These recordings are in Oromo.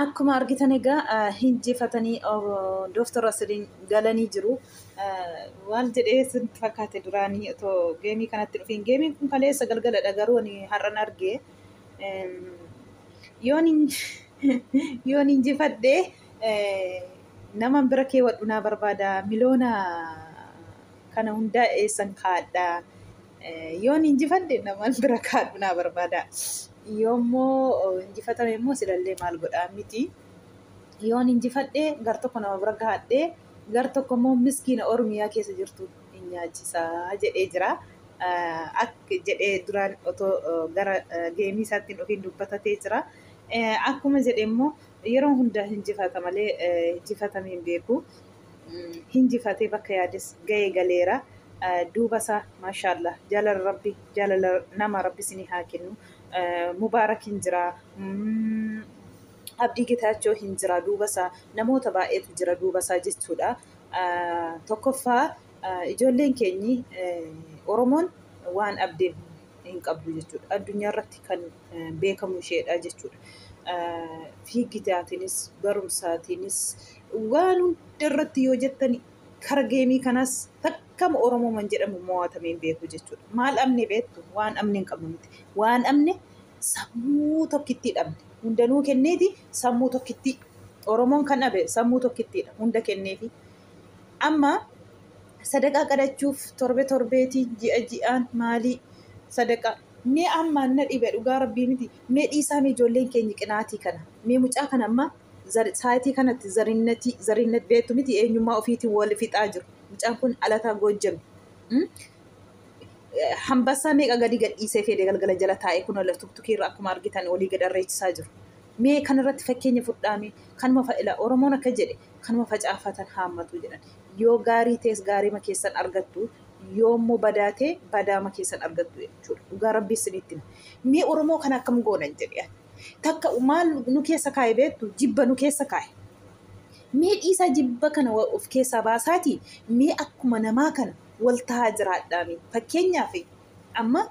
Akkuma argitan egaa hinjifatanii Dooktor Asiliin galanii jiru. Waal jedhee sin fakkaate duraanii otoo geemii kanatti dhufiin. Geemiin kun kaleessa galgaladha garuu ani har'an arge. Yoon injifadhe naman bira keewwadhu naa barbaada. Miloona kana hundaa eessan kaa'adha. Yoon injifadhe namaan bira kaadhu naa barbaada. Yoommoo injifatame immoo silallee maal godhaa miti. Yoon injifadhe gar tokko nama bira gaadhee gar tokko immoo miskiina Oromiyaa keessa jirtu hin nyaachisaa jedhee jira. Akka jedhee duraan otoo gara geemii isaatti hin dhufiin dubbatatee jira. Akkuma jedhe immoo yeroo hundaa injifata malee injifatamee hin beeku. hinjifatee bakka yaades gahee galeera duubasaa mashaallaah jaalala rabbi jaalala nama rabbi isinii haa kennu mubaarak hin jiraa abdii getaachoo hin jiraa duubasaa namoota baay'eetu jira duubasaa jechuudha tokkoffaa ijoolleen keenyi oromoon waan abdeen hin qabdu jechuudha addunyaa irratti kan beekamu isheedha jechuudha fiigitaatiinis barumsaatiinis Waan hunda irratti yoo jettani kara geemii kanaas takkama Oromooman jedhamu mo'atamee hin beeku jechuudha. Maal dhabne beektu? Waan dhabne hin qabnu miti. Waan dhabne sammuu tokkittii dhabne. Hundanuu kenneeti sammuu tokkittii. Oromoon kan dhabe sammuu tokkittiidha. Hunda kenneefi. Amma sadaqaa qadachuuf torbe torbeeti ji'a ji'aan maalii sadaqaa mee ammaan na dhibe dhugaa rabbii miti mee dhiisaa mee ijoolleen keenya qinaatii kana mee mucaa kana ammaa Zari saayitii kanatti zarinnatii zarinnat beektu miti eenyummaa ofiitiin wal fixaa jiru mucaan kun dhalataa goojjami Mm. Eh, hambassaa meeqa gadi gadhiisee feedee galgala jala taa'ee kun ola tuktukii irra akkuma argitan olii gad arreechisaa jiru mee kan irratti fakkeenya fudhaamee kanuma fa'ila oromoon akka jedhe kanuma facaafatan haammatu jedhan yoo gaarii tees gaariima keessan argattu yoo immoo badaa tee badaama keessan argattu jechuudha dhugaa rabbii isinitti hima. mee oromoo kana akkam goonan jedhe ani. Takka maal nu keessa kaa'e beektu jibba nu keessa kaa'e. Mee dhiisaa jibba kana of keessaa baasaatii mee akkuma namaa kana wal tahaa jiraadhaame. Fakkeenyaaf amma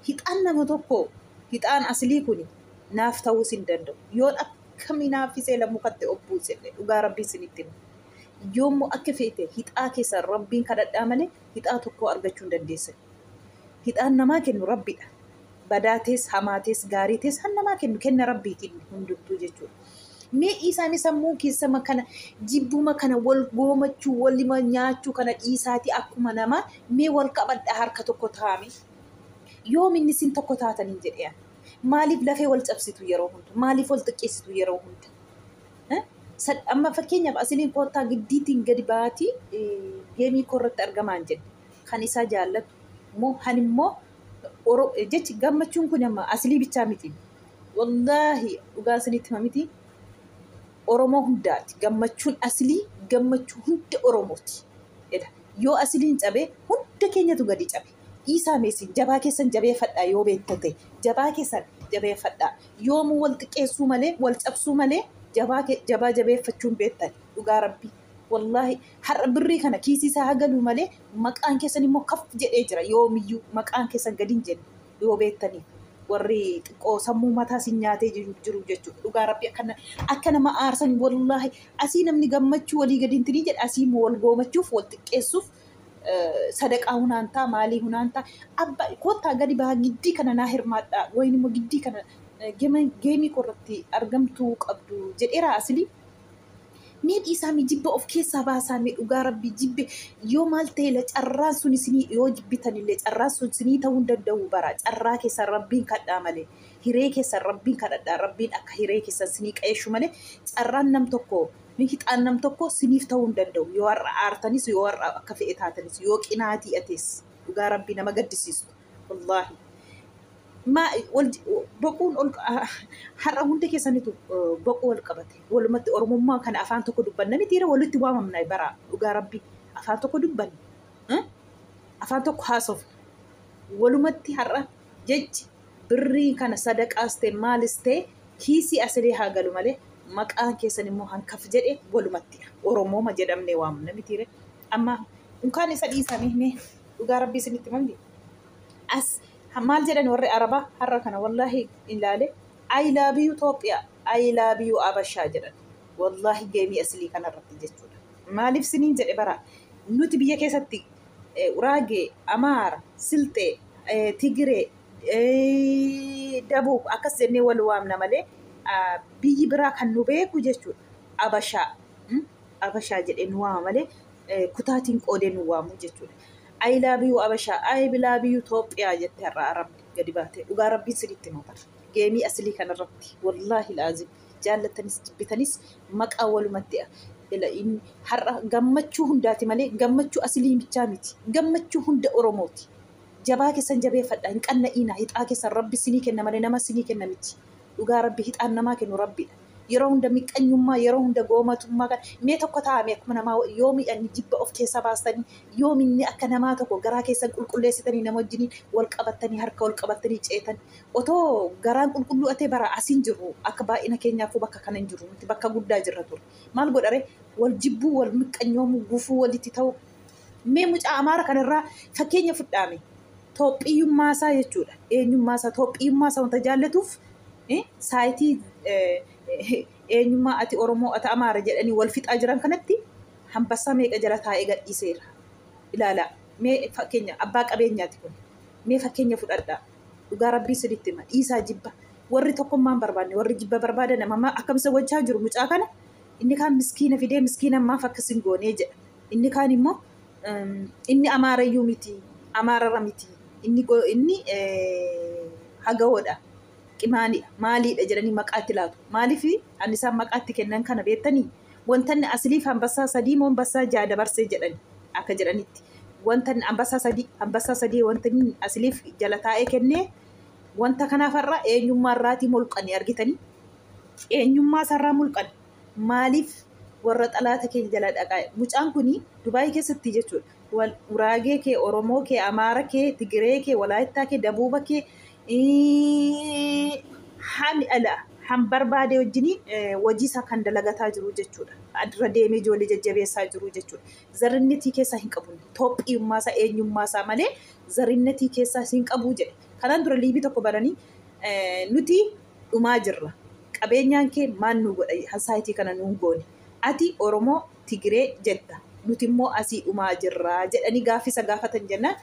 hixaan nama tokkoo hixaan asilii kuni naaf ta'uus hin danda'u. Yoon akkam hinaaffisee la mukatti of buusellee dhugaa rabbii isinitti hima. Yoommoo akka feete hixaa keessan rabbiin kadhadhaa malee hixaa tokkoo argachuu hin dandeessan. Hixaan namaa kennu rabbidha. badaatis, hamaatis, gaariitis kan namaa kennu kenna rabbiitiin hundumtuu jechuudha. Mee dhiisaanii sammuun keessama kana jibbuma kana wal goomachuu walima nyaachuu kana dhiisaatii akkuma namaa mee wal qabadhaa harka tokko taa'ame. Yoominni isin tokko taataniin jedhee ani. Maaliif lafee wal cabsitu yeroo hunda? Maaliif wal xiqqeessitu yeroo hunda? Eh? Sad- Amma fakkeenyaaf asiliin koottaa giddiitiin gadi ba'aatii eh, geemii koo irratti argamaan jedhe. Kan isaa jaallatu moo kan immoo Oro- jechi gammachuun kun amma asilii bichaa miti wallaahi dhugaa isinitti hima miti oromoo hundaati gammachuun asilii gammachuu hunda oromooti jedha yoo asiliin cabe hunda keenyatu gadi cabe dhiisaa meesin jabaa keessan jabeeffadhaa yoo beektan ta'e jabaa keessan jabeeffadhaa yoomuu wal xiqqeessuu malee wal cabsuu malee jabaa ke- jabaa jabeeffachuun beektan dhugaa rabbii Wallaahi har'a birrii kana kiisii isaa haa galuu malee maqaan keessan immoo kaf jedhee jira yoomiyyuu maqaan keessan gadi hin jenne yoo beektanii warri xiqqoo sammuu mataa sin nyaatee jiru jiru jechuudha dhugaa rabbi akka na- akka nama aarsan wallaahi asii namni gammachuu walii gadi hintinii jedha asii immoo wal goomachuuf wal xiqqeessuuf eh, sadaqaa hunaantaa maalii hunaantaa abba kottaa gadi bahaa giddii kana naa hirmaadhaa wayin immoo giddii kana eh, gema- geemii koo irratti argamtuu qabdu jedheeraa asilii Mee dhiisaa mee jibba of keessaa baasaa mee dhugaa rabbii jibbe yoo maal ta'eela carraan sun isinii yoo jibbitanillee carraan sun isinii ta'uu hin danda'u bara carraa keessan rabbiin kadhaa malee hiree keessan rabbiin kadhadhaa rabbiin akka hiree keessan isinii qayeeshu malee carraan nam tokko hixaan nam tokko isiniif ta'uu hin danda'u yoo har'a aartanis yoo har'a akka fe'e taatanis yoo qinaatii atis dhugaa rabbii nama gaddisiistu wallaahi maa wal boquun ol har'a hunda keessanitu boquu wal qabate walumatti oromummaa kana afaan tokko dubbanna mitiira walitti waamamna bara dhugaa rabbi afaan tokko dubbanna eh? afaan tokko haasofna walumatti har'a jechi birrii kana sadaqaas ta'e maalis ta'e kiisii asilee haa galu malee maqaan keessan immoo hankaf jedhe walumattidha oromooma jedhamne waamna mitiire Amma unkaan isa dhiisanii mee dhugaa rabbii isinitti mangi. As maal jedhan warri Arabaa har'a kana wallaahi ilaale I love you Itoophiyaa I love you Abashaa jedhan. Wallaahi geemii asilii kanarratti jechuudha. Maaliif siniin jedhe bara nuti biyya keessatti eh, Uraagee, Amaara, Silxee, eh, Tigiree, eh, Dabuub akkas jennee wal waamna malee ah, biyyi biraa kan nu beeku jechuudha. Abashaa. Mm? Abashaa jedhee nu waama malee kutaatiin qoodee nu waamu jechuudha. I love you Abashaa, I love you Toophiyaa jettee har'a Arabni gadi baatee dhugaa rabbiin siritti nu bar. Geemii asilii kanarratti wallaahi laazim jaallattanis jibbitanis maqaa walumatti har'a gammachuu hundaati malee gammachuu asilii bichaa miti. Gammachuu hunda Oromooti. Jabaa keessan jabeeffadha hin qanna'iina hixaa keessan rabbi sinii kenna malee nama sinii kenna miti. dhugaa rabbi hixaan namaa kennu rabbiidha yeroo hunda miqqanyummaa yeroo hunda goomatummaa kan mee tokko taa'ame akkuma namaa yoo miidhanni jibba of keessa baastanii yoo minni akka namaa tokko garaa keessan qulqulleessitanii nama wajjiniin wal qabattanii harka wal qabattanii ceetan otoo garaan qulqulluu atee bara asiin jirru akka baay'ina keenyaafuu bakka kana hin jirru nuti bakka guddaa jirra ture maal godhare wal jibbuu wal miqqanyoomuu gufuu walitti ta'uu Mee mucaa Amaara kanarraa fakkeenya fudhaame. Toophiyummaa isaa jechuudha. Eenyummaa isaa, Toophiyummaa isaa wanta jaallatuuf eh, saayitii eh, eh, eenyummaa ati Oromoo, ati Amaara jedhanii wal fixaa jiran kanatti hambassaa meeqa jala taa'ee gadhiiseera. Ilaalaa, mee fakkeenya abbaa qabeenyaati kun. Mee fakkeenya fudhadhaa. Dhugaa rabbii sinitti hima. Dhiisaa jibba. Warri tokkummaa hin barbaanne, warri jibba barbaadan amma akkam isa gochaa jiru mucaa kana. Inni kaan miskiina fidee miskiina maaf akkas hin goonee jedha. Inni kaan immoo inni Amaarayyuu miti, Amaarara miti, inni inni hagawoodha, qimaaliidha, maaliidha jedhanii maqaa itti laatu. Maaliif an isaan maqaa itti kennan kana beektanii? Wanta inni asiliif hambassaa sadii moo hambassaa ja'a dabarsee jedhan akka jedhanitti. Wanta inni hambassaa sadii hambassaa sadii wanta inni asiliif jala taa'ee kennee wanta kanaaf har'a eenyummaa irraatii mulqani argitanii? Eenyummaa isaarraa mulqani. Maaliif warra xalaata kee jala dhaqaa mucaan kun dubaayii keessatti jechuudha wal guraagee kee oromoo kee amaara kee tigiree kee walaayittaa kee dabuuba kee hami ala han barbaade wajjinii wajii isaa kan dalagataa jiru jechuudha adra deemee ijoollee jajjabeessaa jiru jechuudha zarrinnetii keessaa hin qabu toophiyummaa isaa eenyummaa isaa malee zarrinnetii keessaa hin qabu jedhe kanaan dura liivii tokko bananii nuti dhumaa jirra qabeenyaan kee maal nuu godha hasaayitii kana nuun goone ati oromoo tigiree jetta nuti immoo asii dhumaa jirra jedhanii gaaffii isa gaafatan jennaan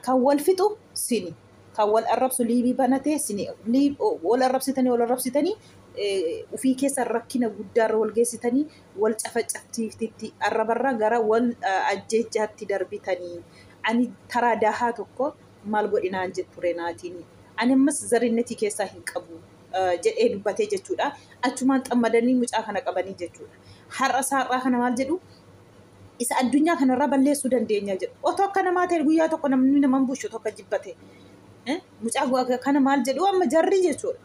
kan wal fixu sini kan wal arrabsu liivii banatee sini wal arrabsitanii wal arrabsitanii ufii keessa rakkina guddaarra wal geessitanii wal cafacaftiiftitti arrabarra gara wal ajjeechaatti darbitanii ani taraa daahaa tokko maal godhi naan jetture naatiin ani ammas zarinnetii keessaa hin qabu jedhee dubbatee jechuudha. Achumaan xammadanii mucaa kana qabanii jechuudha. Har'a saar'aa kana maal jedhu isa addunyaa kanarraa balleessuu dandeenya jedhu. Otoo akka namaa ta'e guyyaa tokko namni nama hin bushu tokko jibbate. Mucaa kana maal jedhu amma jarri jechuudha.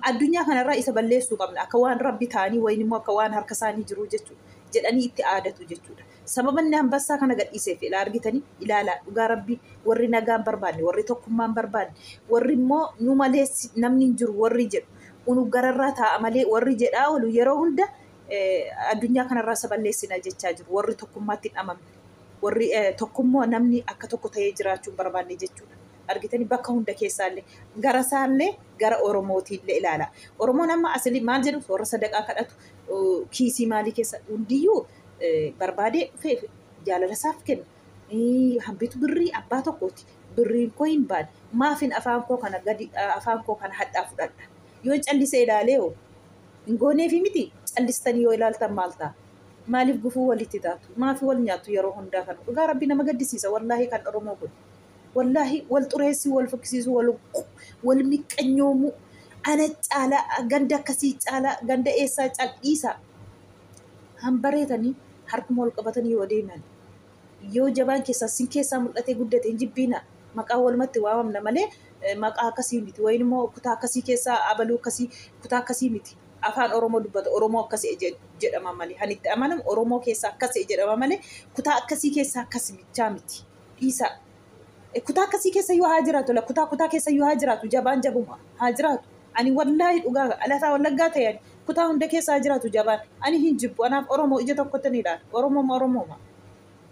Addunyaa kanarraa isa balleessuu qabna akka waan rabbi ta'anii wayin immoo akka waan harka isaanii jiru jechuudha. Jedhanii itti aadatu jechuudha. Sababa inni Anbassaa kana gadhiiseef ilaa argitanii ilaalaa dhugaa rabbii warri nagaa hin barbaanne warri tokkummaa hin barbaanne warri immoo nu malee namni hin jiru warri jedhu unu gararraa taa'a malee warri jedhaa oolu yeroo hunda addunyaa kanarraa isa balleessina jechaa jiru warri tokkummaatti hin amamne warri tokkummoo namni akka tokko ta'ee jiraachuu hin barbaanne jechuudha. argitanii bakka hunda keessaallee gara isaallee gara oromootiillee ilaala oromoon amma asili maal jedhu warra sadaqaa kadhatu kiisii maalii keessa hundiyyuu barbaadee dhufee jaalala isaaf kenna. Hambitu birrii abbaa tokkooti. Birriin koo hin baane. Maafin afaan koo kana gadi afaan koo kana hadhaa fudhadha. Yoo callisee ilaalee hoo hin gooneefi miti callistanii yoo ilaaltan maal ta'a? Maaliif gufuu walitti taatu? Maafi wal nyaattu yeroo hundaa kana? Dhugaa rabbi nama gaddisiisa wallaahi kan Oromoo kun. Wallaahi wal xureessuu, wal fokkisiisuu, wal wal miqqanyoomuu, ana caalaa, ganda akkasii caalaa, ganda eessaa caalaa dhiisaa. hanbareetanii harkuma wal qabatanii yoo adeeman yoo jabaan keessaa sin keessaa mul'atee guddate hin jibbiina maqaa walumatti waamamna malee eh, maqaa akkasii miti wayin immoo kutaa akkasii keessaa abaluu akkasii kutaa akkasii miti afaan oromoo dubbata oromoo akkasii je- jedhama malee kan itti amanamu oromoo keessaa akkasii jedhama malee kutaa akkasii keessaa akkasi michaa miti dhiisaa Kutaa akkasii keessa yoo haa jiraatu la kutaa kutaa keessa yoo haa jiraatu jabaan jabuma haa jiraatu. Ani wallaahi dhugaa dhalataa wallaggaa ta'e ani kutaa hunda keessa haa jiraatu jabaan ani hin jibbu anaaf Oromoo ija tokkotti ni ilaala Oromooma Oromooma.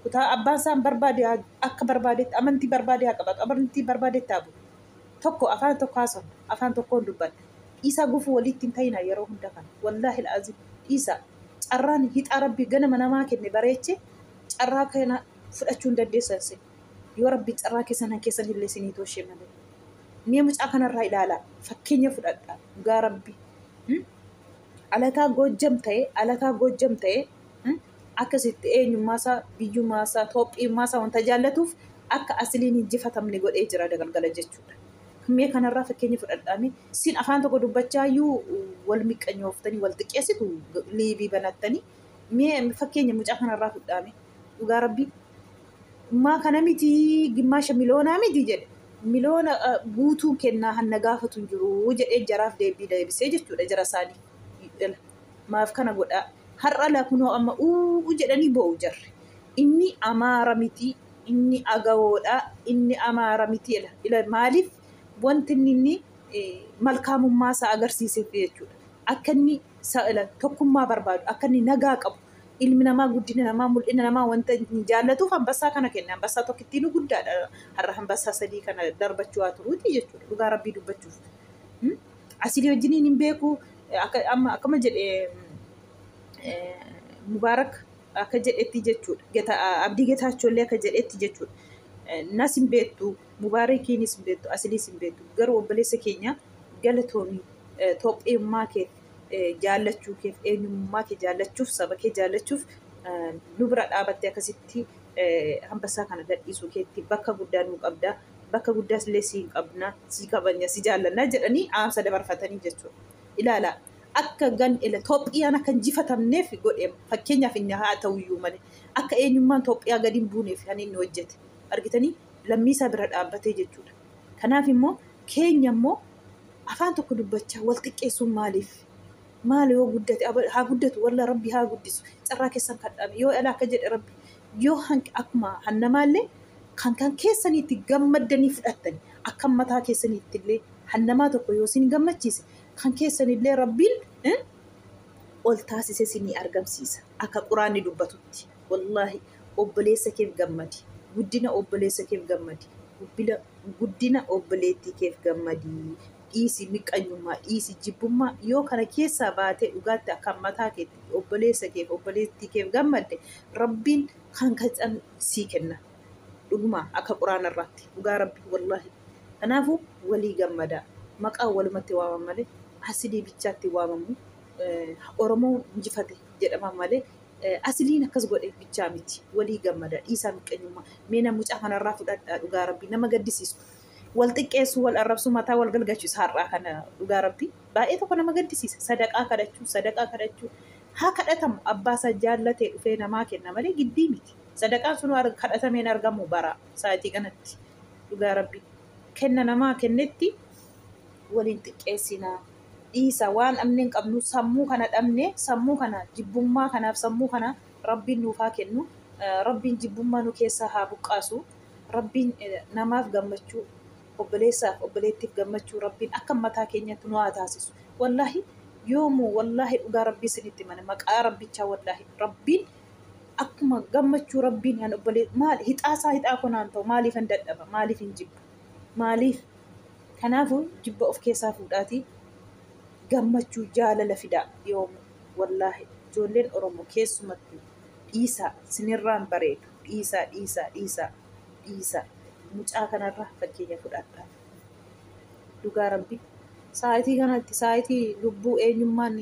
Kutaa abbaan isaan barbaade haa- akka barbaadetti amantii barbaade haa qabatu amantii barbaadetti haa bulu. Tokko afaan tokko haasofna afaan tokkoon dubbanna. Dhiisaa gufuu waliitti hin ta'inaa yeroo hunda kana wallaahi la'aziim dhiisaa. Carraan hixaa rabbi ganama namaa kenne bareeche carraa kana fudhachuu hin dandeessan isin yoo rabbi carraa keessan kan keessan illee isinii tooshee malee mee mucaa kanarraa ilaalaa fakkeenya fudhadha dhugaa rabbi hmm? alataa goojjam ta'e alataa goojjam ta'e hmm? akkasitti eenyummaa isaa biyyummaa isaa toophiyummaa isaa wanta jaallatuuf akka asiliin hin jifatamne godhee jira dagalgala jechuudha mee kanarraa fakkeenya fudhadhaame sin afaan tokko dubbachaa iyyuu wal miqqanyooftanii wal xiqqeessitu liivii banattanii mee fakkeenya mucaa kanarraa fudhaame dhugaa rabbii ummaa kana miti gimmaasha miloonaa miti jedhe miloona guutuun kennaa hanna gaafatu hin jiru jedhee jaraaf deebii deebisee jechuudha jara isaanii maaf kana godhaa har'a lakunoo amma uu jedhanii boo'u jarri inni amaara miti inni agawoodha inni amaara miti ila maaliif wanti inni inni malkaamummaa isaa agarsiiseef jechuudha akka inni tokkummaa barbaadu akka inni nagaa qabu Ilmi namaa guddina namaa, mul'ina namaa wanta hin jaallatuuf hambassaa kana kenne. Hambassaa tokkittiinuu guddaadha. Har'a hambassaa sadii kana darbachuu haa turuuti jechuudha. Dhugaa rabbii dubbachuuf. Hmm? Asilii wajjiniin hin beeku. Akka, amma, akkuma jedhe eh, Mubaarak akka jedhetti jechuudha. Geta, Abdii Getaachollee akka jedhetti jechuudha. Eh, Nas hin beektu, Mubaarakiinis hin beektu, Asiliis hin beektu. Garuu obboleessa keenya galatoomi eh, Toophiyummaa keeti. jaallachuu keef eenyummaa kee jaallachuuf saba kee jaallachuuf nu bira dhaabattee akkasitti hambassaa kana gadhiisuu keetti bakka guddaa nuu qabda bakka guddaas illee siin qabna sii kabanya si jaallanna jedhanii dhaamsa dabarfatanii jechuudha. Ilaala akka gan ila Itoophiyaan akka injifatamneef godhe fakkeenyaaf inni haa ta'u iyyuu malee akka eenyummaan Itoophiyaa gadi hin buuneef kan inni hojjete argitanii lammii isaa bira dhaabbatee jechuudha. Kanaaf immoo keenya immoo afaan tokko dubbachaa wal xiqqeessuun maaliif? Maal yoo guddate aba- haa guddatu walla rabbi haa guddisu carraa keessan kadhaame yoo ala akka jedhe rabbi yoo hanq- akkuma hannamaallee kan kan keessanii itti gammaddanii fudhattani akka mataa keessanii ittillee hannamaa tokko yoo isin gammachiise kan keessanillee rabbiin eh, ol taasise isinii argamsiisa akka quraanni dubbatutti. Wallahi obboleessa keef gammadi guddina obboleessa keef gammadi gubbila guddina obboleettii keef gammadi dhiisi miqqanyummaa dhiisi jibbummaa yoo kana keessaa baatee dhugaatti akkaan mataa keetti obboleessa keef obboleettii keef gammadde rabbiin kan kacan sii kenna dhuguma akka quraana irraatti dhugaa rabbi wallahi kanaafu walii gammadaa maqaa walumatti waaman malee asidii bichaatti waamamu eh, oromoo injifate jedhama malee Asliin akkas godheef bichaa miti walii gammada dhiisaa miqqenyummaa mee na mucaa kanarraa fudhadhaa dhugaa rabbii nama gaddisiisu wal xiqqeessu wal arrabsu mataa wal galgachiisu har'aa kana dhugaa rabbii baay'ee tokko nama gaddisiisa sadaqaa kadhachuu sadaqaa kadhachuu haa kadhatamu abbaa isaa jaallatee dhufee namaa kenna malee giddii miti sadaqaan sun arg- kadhatameen argamu bara sa'atii kanatti dhugaa rabbii kenna namaa kennetti waliin xiqqeessinaa dhiisa waan dhabne hin qabnu sammuu kana dhabne sammuu kana jibbummaa kanaaf sammuu kana rabbiin nuuf haa kennu rabbiin jibbummaa nu keessaa haa buqqaasu rabbiin namaaf gammachuu obboleessaaf obboleettiif gammachuu rabbiin akka mataa keenyatti nu haa taasisu wallaahi yoomuu wallaahi dhugaa rabbii isinitti mana maqaa rabbichaa wallaahi rabbiin akkuma gammachuu rabbiin kan obbolee maal hixaasaa hixaa konaan ta'u maaliif hin dadhaba maaliif hin jibba maaliif Kanaafuu jibba of keessaa fuudhaatii gammachuu jaalala fidaa yoomuu wallaahi ijoolleen oromoo keessumattuu dhiisaa sinirraan bareedu dhiisaa dhiisaa dhiisaa dhiisaa mucaa kanarraa fakkeenya fudhadhaa dhugaa rabbii sa'aatii kanatti sa'aatii lubbuu eenyummaan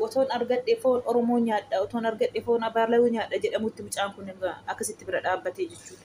otoon argadhe foon oromoo nyaadha otoon argadhe foon abaalawuu nyaadha jedhamutti mucaan kun akkasitti bira dhaabbatee jechuudha.